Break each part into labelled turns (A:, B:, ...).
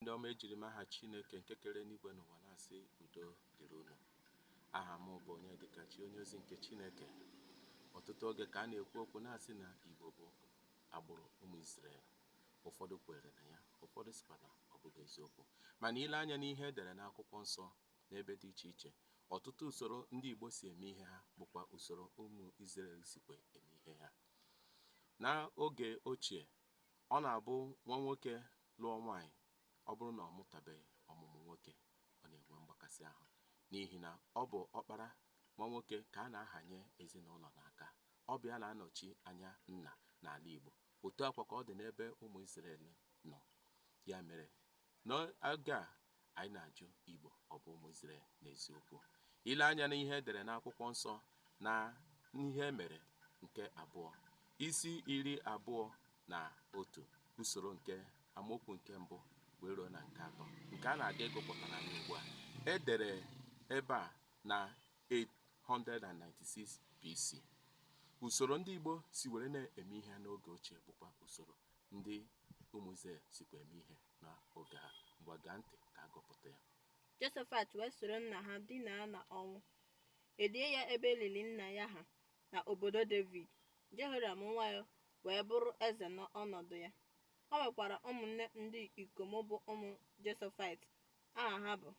A: Ndị ọma ejiri m aha Chineke nke kere enigwe na ụwa na-asị udo dịrị unu. Aha m bụ Onyedịkachi, onye ozi nke Chineke. Ọtụtụ oge ka a na-ekwu okwu na-asị na Igbo bụ agbụrụ ụmụ Izrel. Ụfọdụ kwere na ya, ụfọdụ sịkwa na ọ bụghị eziokwu. Mana ile anya n'ihe e dere n'akwụkwọ nsọ n'ebe dị iche iche, ọtụtụ usoro ndị Igbo si eme ihe ha bụkwa usoro ụmụ Izrel sikwa eme ihe ha. N'oge ochie, Ọ na-abụ nwa nwoke lụọ nwaanyị, ọ bụrụ na ọ mụtabeghị ọmụmụ nwoke, ọ na-enwe mgbakasị ahụ n'ihi na ọ bụ ọkpara nwa nwoke ka a na-ahanye ezinụlọ n'aka. Ọ bụ ya na-anọchi anya nna n'ala Igbo. Otu a kwa ka ọ dị n'ebe ụmụ Izrel nọ. Ya mere, N'oge a, anyị na-ajụ Igbo ọ bụ ụmụ Izrel n'eziokwu? Ile anya n'ihe e dere n'akwụkwọ nsọ na Ihe E Mere nke abụọ, isi iri abụọ na otu usoro nke amaokwu nke mbụ wee ruo na nke atọ nke a na-aga ịgụpụtara anyị ugbu a e dere ebe a na 896 BC. Usoro ndị Igbo si were na-eme ihe n'oge ochie bụkwa usoro ndị ụmụ Izrel sikwa eme ihe n'oge ha. Ngwa gee ntị ka a gụpụta ya. Josafat wee
B: soro nna ha dinaa na ọnwụ e lie ya ebe e lili nna ya ha na obodo Devid. Jehoram nwa ya wee bụrụ eze n'ọnọdụ ya. O nwekwara ụmụnne ndị ikom bụ ụmụ Josafat aha ha bụ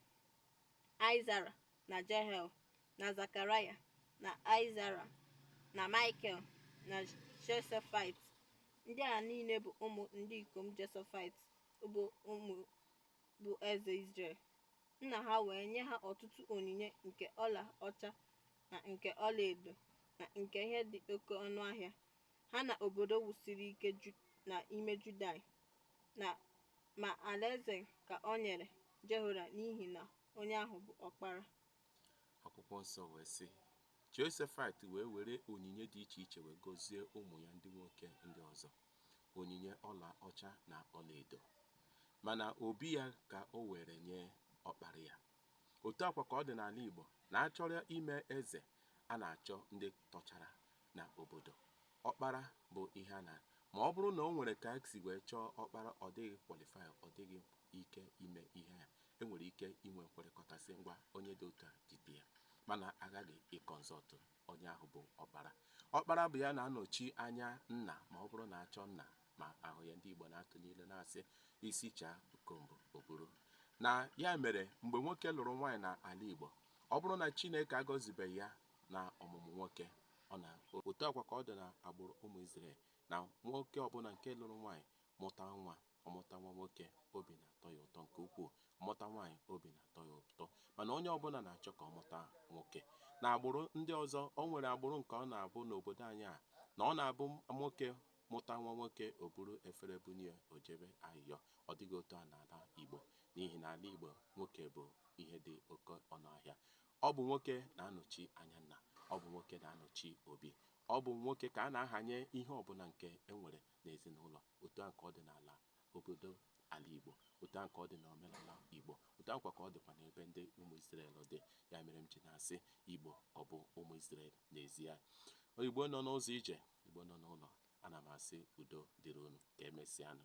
B: aịzara na jehiel na zakaraya na aịzara na michael na josafat ndị a niile bụ ụmụ ndị ikom josafat bụ ụmụ bụ eze israel nna ha wee nye ha ọtụtụ onyinye nke ọla ọcha na nke ọlaedo na nke ihe dị oke ọnụ ahịa ha na obodo wusiri ike na ime Juda, ma alaeze ka o nyere Jehoram n'ihi na onye ahụ bụ ọkpara. Akwụkwọ
A: nsọ wee sị, Josafat wee were onyinye dị iche iche wee gọzie ụmụ ya ndị nwoke ndị ọzọ, onyinye ọla ọcha na ọlaedo. Mana obi ya ka o were nye ọkpara ya. Otu a kwa ka ọ dị n'ala Igbo na a chọrọ ime eze, a na-achọ ndị tọchara na obodo. Ọkpara bụ ihe a na ma ọ bụrụ na o nwere ka e si wee chọọ ọkpara ọ dịghị qualify, ọ dịghị ike ime ihe a, e nwere ike inwe nkwekọrịta sị ngwa onye dị otu a jide ya. Mana a ghaghị ị consult onye ahụ bụ ọkpara. Ọkpara bụ ya na-anọchi anya nna ma ọ bụrụ na a chọọ nna ma a hụ ya ndị Igbo na-atụ n'ilu na-asị isi chaa ukombo o buru na ya mere mgbe nwoke lụrụ nwaanyị na ala Igbo ọ bụrụ na Chineke agọzibeghị ya na ọmụmụ nwoke na otu a kwa ka ọ dị na agbụrụ ụmụ Izrel na nwoke ọbụla nke lụrụ nwaanyị mụta nwa ọ mụta nwa nwoke obi na-atọ ya ụtọ nke ukwuu ọ mụta nwaanyị obi na-atọ ya ụtọ mana onye ọbụla na-achọ ka ọ mụta nwoke na agbụrụ ndị ọzọ o nwere agbụrụ nke ọ na-abụ n'obodo anyị a na ọ na-abụ nwoke Mụta nwa nwoke o buru efere bunye ya o jebe ayịyọ. Ọ dịghị otu a n'ala Igbo n'ihi na ala Igbo nwoke bụ ihe dị oke ọnụ ahịa. Ọ bụ nwoke na-anọchi anya nna. Ọ bụ nwoke na-anọchi obi. Ọ bụ nwoke ka a na-ahanye ihe ọbụla nke e nwere n'ezinaụlọ. Otu ahụ ka ọ dị n'ala obodo ala Igbo. Otu ahụ ka ọ dị n'omenala Igbo. Otu ahụkwa ka ọ dịkwa n'ebe ndị ụmụ Izrel dị. Ya mere m ji na-asị Igbo ọ bụ ụmụ Izrel n'ezie. Igbo nọ n'ụzọ ije. Igbo nọ n'ụlọ, ana m asị udo dịrị unu. Ka e mesịanụ.